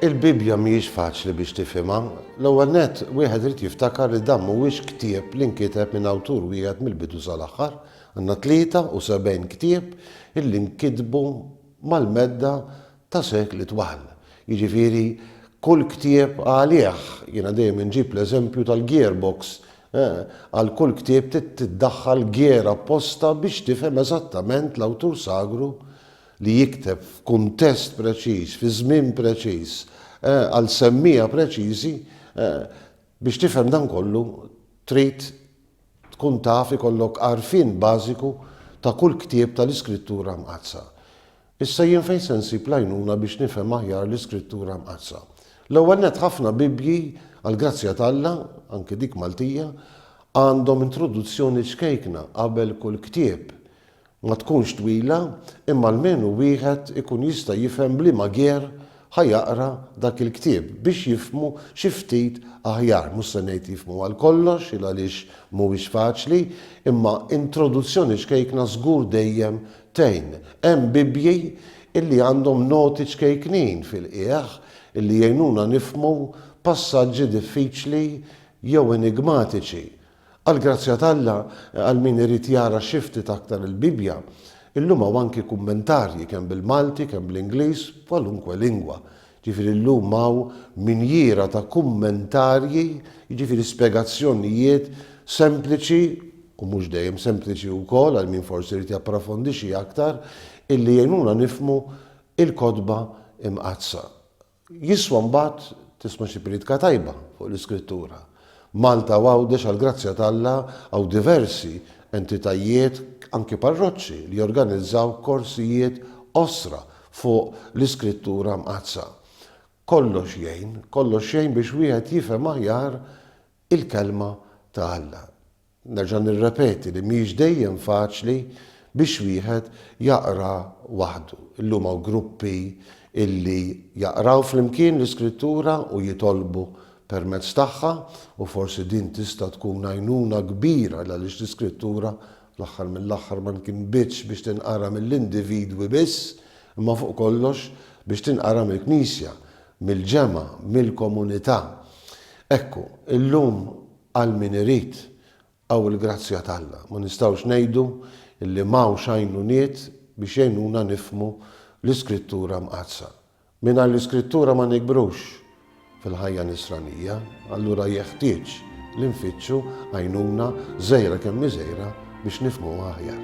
Il-Bibbja mhijiex faċli biex tifhimha. L-ewwel nett, wieħed irid jiftakar li dan mhuwiex ktieb li nkiteb minn awtur wieħed mill-bidu sal-aħħar. Għandna 73 ktieb illi nkitbu mal-medda ta' sekli twal. Jiġifieri kull ktieb għalih, jiena dejjem inġib l-eżempju tal-gearbox, għal kull ktieb trid tiddaħħal gear apposta biex tifhem eżattament l-awtur sagru li jikteb f'kuntest preċiż, fi żmien preċiż, għal semmiegħa preċiżi, biex tifhem dan kollu trid Tkun taf ikollok għarfien bażiku ta' kull ktieb tal-Iskrittura Mqaddsa. Issa jien fejn se nsib l-għajnuna biex nifhem aħjar l-Iskrittura Mqaddsa? L-ewwel nett ħafna Bibbji, għall-grazzja t'Alla, anki dik Maltija, għandhom introduzzjoni ċkejkna qabel kull ktieb. Ma tkunx twila, imma almenu wieħed ikun jista' jifhem b'liema ghier ħa jaqra dak il-ktieb biex jifhmu xi ftit aħjar. Mhux se ngħid jifhmu għal kollox il għaliex mhuwiex faċli, imma introduzzjoni ċkejkna żgur dejjem tgħin. Hemm Bibbji illi għandhom noti ċkejknin fil-qiegħ illi jgħinuna nifhmu passaġġi diffiċli jew enigmatiċi. Għall-grazzja t'Alla, għal min irid jara xi ftit aktar il-Bibbja, illum hawn anki kummentarji kemm bil-Malti, kemm bl-Ingliż, b'kwalunkwe lingwa. Jiġifieri llum hawn minjiera ta' kummentarji, jiġifieri spjegazzjonijiet sempliċi, u mhux dejjem sempliċi wkoll għal min forsi jrid japprafondixi aktar, illi jgħinuna nifhmu l-Kotba Imqaddsa. Jiswa mbagħad tisma' xi priedka tajba fuq l-Iskrittura. Malta u Għawdex għall-grazzja t'Alla hawn diversi entitajiet anki parroċċi li jorganizzaw korsijiet qosra fuq l-Iskrittura Mqaddsa. Kollox jgħin, kollox jgħin biex wieħed jifhem aħjar il-Kelma ta' Alla. Nerġa' nirrepeti li mhijiex dejjem faċli biex wieħed jaqra waħdu. Illum hawn gruppi illi jaqraw flimkien l-Iskrittura u jitolbu permezz tagħha, u forsi din tista' tkun għajnuna kbira għaliex l-Iskrittura fl-aħħar mill-aħħar ma nkinbitx biex tinqara mill-individwi biss, imma fuq kollox biex tinqara mill-Knisja, mill-ġemgħa, mill-komunità. Ekku, illum għal min irid, hawn il-grazzja t'Alla. Ma nistgħux ngħidu li m'hawnx għajnuniet biex jgħinuna nifhmu l-Iskrittura Mqaddsa. Mingħajr l-Iskrittura ma nikbrux fil-ħajja nisranija, allura jeħtieġ li nfittxu għajnuna, żgħira kemm hi żgħira, biex nifhmuha aħjar.